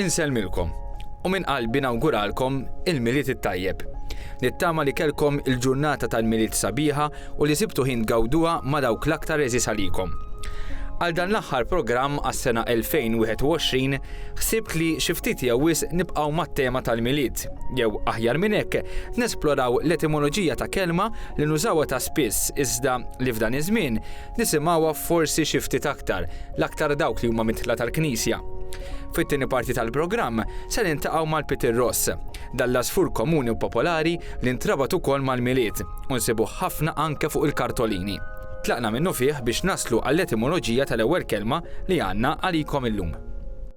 Insellmilkom u minn qalbi nawguralkom il-Milied it-tajjeb. Nittama li kelkom il-ġurnata tal-Milied sabiħa u li sibtu ħin tgawduha ma' dawk l-aktar eżis għalikom. Għal dan l-aħħar programm għas-sena 2021 ħsibt li xi ftit jew wisq nibqgħu mat-tema tal-Milied. test, jew aħjar minn hekk, nesploraw l-etimoloġija ta' kelma li nużawha ta' spiss iżda li f'dan iż-żmien nisimgħuha forsi xi ftit aktar, l-aktar dawk li huma midħla tal-Knisja. Fit-tieni parti tal-programm se niltaqgħu mal-Peter Ross. Dan l-għasfur komuni u popolari li ntrabat ukoll mal-Milied u nsibuh ħafna anke fuq il-kartolini. Tlaqna minnufih biex naslu għall-etimoloġija tal-ewwel kelma li għandna għalikom illum.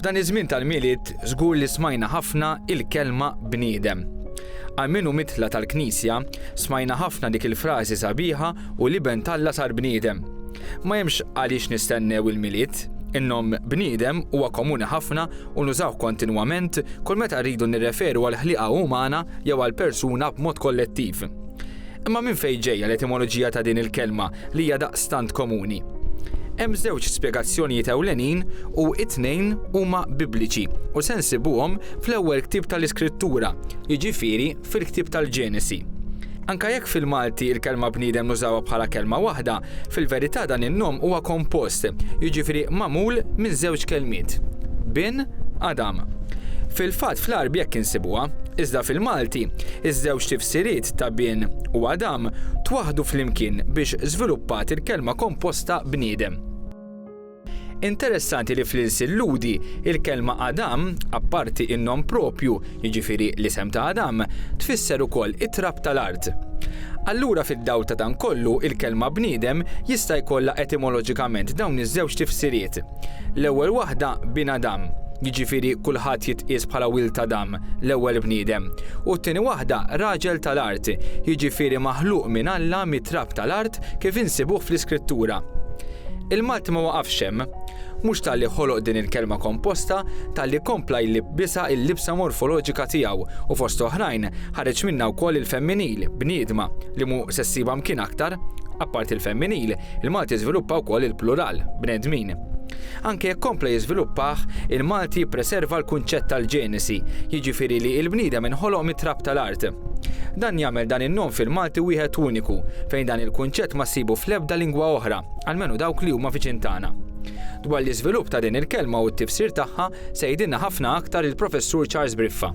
F'dan iż-żmien tal-Milied żgur li smajna ħafna il-kelma bniedem. Għal min hu mitla' tal-Knisja, smajna ħafna dik il-frażi sabiħa u l-Iben t'Alla sar bniedem. Ma hemmx għaliex nistennew il-Milied. In-nom bniedem huwa komuni ħafna u nużawh kontinwament kull meta rridu nirreferu għall-ħliqa umana jew għal persuna b'mod kollettiv. Imma minn fejn ġejja l-etimoloġija ta' din il-kelma li hija daqstant komuni? Hemm żewġ spjegazzjonijiet ewlenin u t-tnejn huma Bibliċi u se nsibuhom fl-ewwel ktieb tal-Iskrittura, jiġifieri fil-ktieb tal-Ġenesi. Anke jekk fil-Malti l-kelma bniedem nużawha bħala kelma waħda, Fil-verità dan in-nom huwa kompost, jiġifieri magħmul minn żewġ kelmiet, bin, Adam. Fil-fatt fl-Għarb jekk insibuha, iżda fil-Malti, iż-żewġ tifsiriet ta' bin u Adam twaħħdu flimkien biex żviluppat il-kelma komposta bniedem. Interessanti li fl-ilsien Lhudi, il-kelma Adam, apparti n-nom proprju, jiġifieri l-isem ta' Adam, tfisser ukoll it-trab tal-art. Allura fid-dawl ta' dan kollu, il-kelma bniedem jista' jkollha etimoloġikament dawn iż-żewġ tifsiriet. L-ewwel waħda bin Adam, jiġifieri kulħadd jitqies bħala wild Adam, l-ewwel bniedem, u t-tieni waħda raġel tal-art, jiġifieri maħluq minn Alla mit-trab tal-art Kif insibuh fl-Iskrittura. Il-Malti ma waqafx hemm. Mhux talli ħoloq din il-kelma komposta, talli kompla jlibbisha l-libsa morfoloġika tiegħu u fost oħrajn ħareġ minnha wkoll il-femminil, bniedma, li mhu se ssibha mkien aktar. Apparti l-femminil, il-Malti żviluppa wkoll il-plural, bnedmin. Anke jekk kompla jiżviluppah, il-Malti jippreserva l-kunċett tal-Ġenesi, jiġifieri li l-bniedem inħoloq mit-trab tal-art. Dan jagħmel dan in-nom fil-Malti wieħed uniku, fejn dan il-kunċett ma ssibu fl-ebda lingwa oħra, almenu dawk li huma viċin tagħna. Dwar l-iżvilupp ta' din il-kelma u t-tifsir tagħha se jgħidilna ħafna aktar il-Professur Charles Briffa.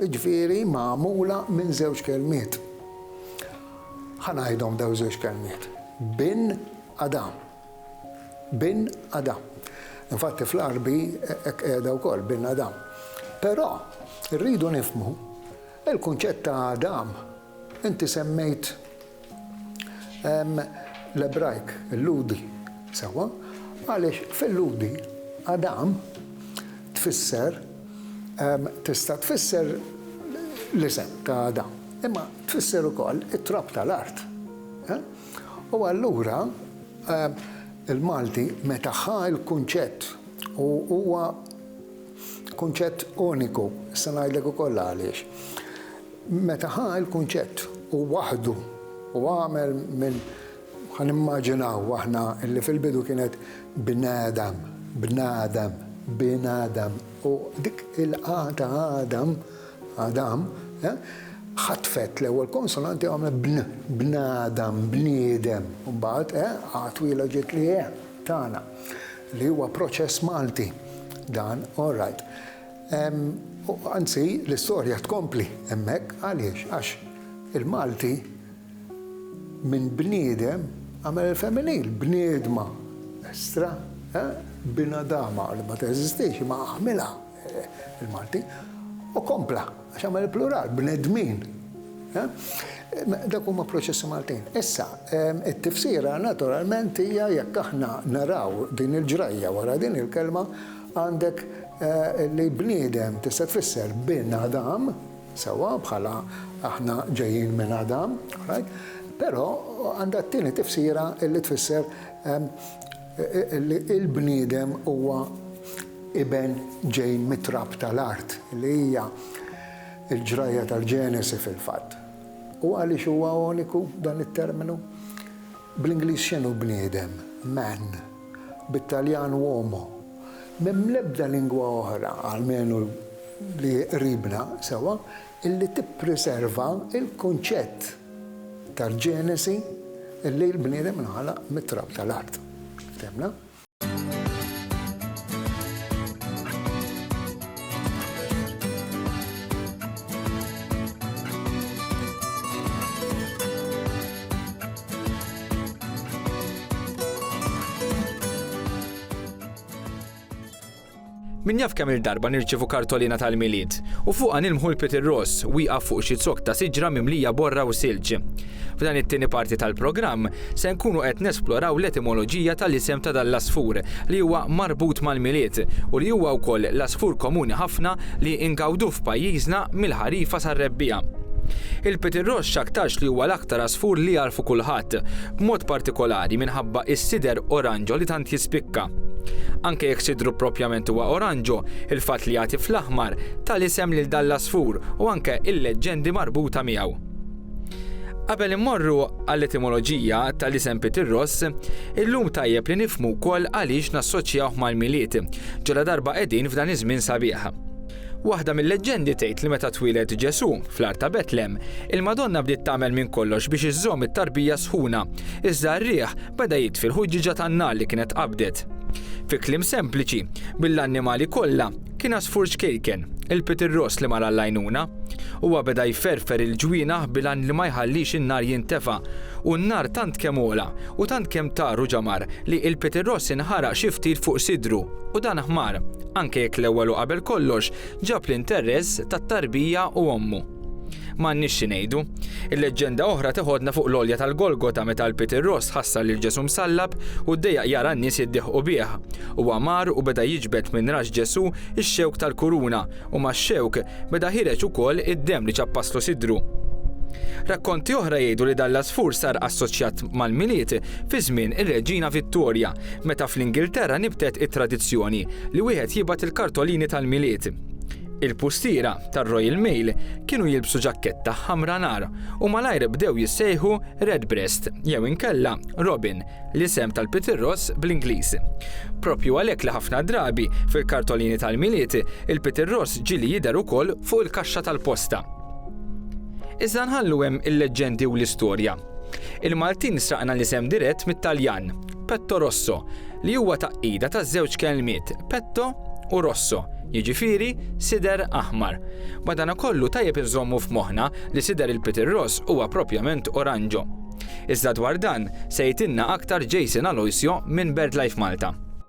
Jiġifieri magħmula minn żewġ kelmiet. Ħa ngħidhom dawn iż-żewġ kelmiet, Bin Adam. Bin Adam. Infatti fl-Għarbi hekk qiegħda wkoll, Bin Adam. Però rridu nifhmu, il-kunċett ta' Adam inti semmejt Hemm l-Ebrajk, il-Lhudi, sewwa, għaliex fil-Lhudi Adam tfisser, tista' tfisser l-isem ta' Adam, imma tfisser ukoll it-trab tal-art. U allura il-Malti meta ħa l-kunċett u huwa, Kunċett uniku, se ngħidlek ukoll għaliex. Meta ħa l-kunċett u waħħdu u għamel minn, ħa nimmaġinaw aħna li fil-bidu kienet bnadam, bnadam, binadam u dik il-a ta' Adam, Adam, ħatfet l-ewwel konsonanti u għamlet bn, bnadam, bniedem, u mbagħad a twila ġiet l-e tagħna. Li huwa proċess Malti dan, all right. Anzi, l-istorja tkompli hemmhekk, għaliex? Għax il-Malti minn bniedem għamel il-femminil, bniedma, estra, binadama li ma teżistix imma għamilha. il-Malti, u kompla, għax għamel il-plural, bnedmin. Dak huma proċessi Maltin. Issa, it-tifsira naturalment hija jekk aħna naraw din il-ġrajja wara din il-kelma għandek eh, li bniedem tista' tfisser bin Adam, sewa bħala aħna ġejjin minn Adam, right? Però għandha t-tieni tifsira illi tfisser li l-bniedem huwa iben ġej mit-trab tal-art, li hija l-ġrajja tal-Ġenesi fil-fatt. U għaliex huwa uniku dan it-terminu? Bl-Ingliż x'inhu bniedem? Man. Bit-Taljan uomo. M'hemm l-ebda lingwa oħra, almenu li qribna sewwa, illi tippriserva l-kunċett tal-Ġenesi illi l-bniedem inħalaq mit-trab tal-art. Fehmna? Min jaf kemm-il darba nirċievu kartolina tal-Milied, u fuqha nilmħu l-Piet ir-Ross wieqaf fuq xi zokk ta' siġra mimlija borra u silġ. F'dan it-tieni parti tal-programm, se nkunu qed nesploraw l-etimoloġija tal-isem ta' dan l-għasfur li huwa marbut mal-Milied u li huwa wkoll l-għasfur komuni ħafna li ngawduh f'pajjiżna mill-ħarifa sar-rebbiegħa. Il-Piet ir-Ross x'aktarx li huwa l-aktar għasfur li jagħrfu kulħadd, b'mod partikolari minħabba s-sider oranġo li tant jispikka. Anke jekk sidru proprjament huwa oranġo, il-fatt li jagħti fl-aħmar ta l-isem lil dan l-għasfur u anke l-leġġendi marbuta miegħu. Qabel immorru għall-etimoloġija ta' l-isem Peter Ross, illum tajjeb li nifhmu wkoll għaliex nassoċjawh mal-Milied, ġaladarba qegħdin f'dan iż-żmien sabiħ. Waħda mil-leġġendi tgħid li meta twieled Ġesù, fl-għar ta' Betlem, il-Madonna bdiet tagħmel minn kollox biex iżżomm it-tarbija sħuna, iżda r-riħ Beda jitfi l-ħuġġieġa tan-nar li kienet qabdet. Fi kliem sempliċi, bil-annimali kollha, kien għasfur ċkejken, il-Peter Ross li mar għall-għajnuna. Huwa beda jferfer il-ġwienaħ bil-għan li ma jħallix in-nar jintefa', u n-nar tant kemm għola u tant kemm tar u ġamar li il-Peter Ross inħaraq xi ftit fuq sidru u dan ħmar, anke jekk l-ewwel u qabel kollox ġab l-interess tat-tarbija u ommu. M'għandniex xi ngħidu. Il-leġġenda oħra teħodna fuq l-għolja tal-Golgota meta l-Pied ir-Ross ħassar lil Ġesù msallab u ddejjaq jara n-nies jiddieħqu bih. Huwa mar u beda jiġbed minn rax Ġesù x-xewk tal-kuruna u max-xewk beda ħireġ ukoll id-demm li ċappaslu sidru. Rakkonti oħra jgħidu li dan l-għasfur sar assoċjat mal-Milied fi żmien ir-Reġina Vittorja meta fl-Ingilterra nibtet it-tradizzjoni li wieħed jibgħat il-kartolini tal-Milied. Il-pustiera tar-Royal Mail kienu jilbsu ġakketta ħamra nar u malajr bdew jissejħu Redbreast jew inkella Robin, l-isem tal-pitirross bl-Ingliż. Proprju għalhekk li ħafna drabi fil-kartolini tal-Milied il-pitirross ġieli jidher ukoll fuq il-kaxxa tal-posta. Iżda nħallu hemm il-leġġendi u l-istorja. Il-Maltin sraqna l-isem dirett mit-Taljan, petto rosso, li huwa tgħaqqida ta' żewġ kelmiet, petto u rosso, jiġifieri sider aħmar. Madanakollu tajjeb inżommu f'moħħna li sider il-Peter Ross huwa proprjament oranġo. Iżda dwar dan se jgħidilna aktar Jason Aloisio minn BirdLife Malta.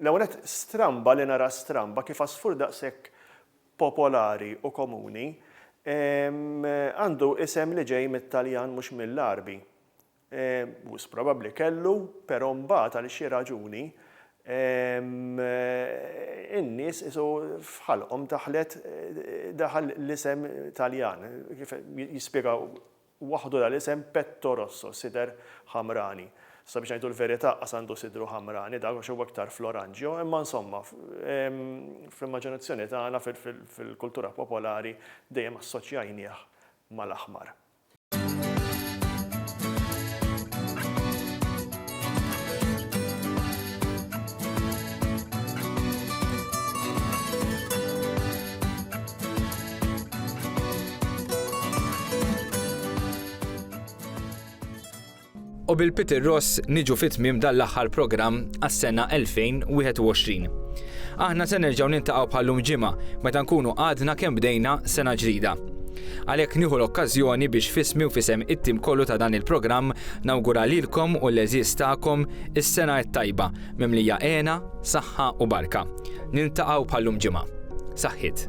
L-ewwel nett, stramba li nara stramba kif għasfur daqshekk popolari u komuni għandu isem li ġej mit-Taljan mhux mill-Għarbi. Wisq probabbli kellu, però mbagħad għal xi raġuni in-nies qisu f'ħalqhom daħlet daħal l-isem Taljan, kif jispjega Waħdu la l-isem petto rosso, sider ħamrani. Sabiex ngħidu l-verità qas għandu sidru ħamrani dak għax huwa iktar fl-oranġjo, imma insomma, fl-immaġinazzjoni tagħna, fil-kultura popolari, dejjem assoċjajnieh mal-aħmar. U bil-Peter Ross niġu fit tmiem dan l-aħħar programm għas-sena 2021. Aħna se nerġgħu nintaqgħu bħallum ġimgħa meta nkunu għadna kemm bdejna sena ġdida. Għalhekk nieħu l-okkażjoni biex fismi u fisem it-tim kollu ta' dan il-programm nawgura lilkom u l-eżiż tagħkom is-sena t-tajba mimlija għena, saħħa u barka. Nintaqgħu bħallum ġimgħa. Saħħit.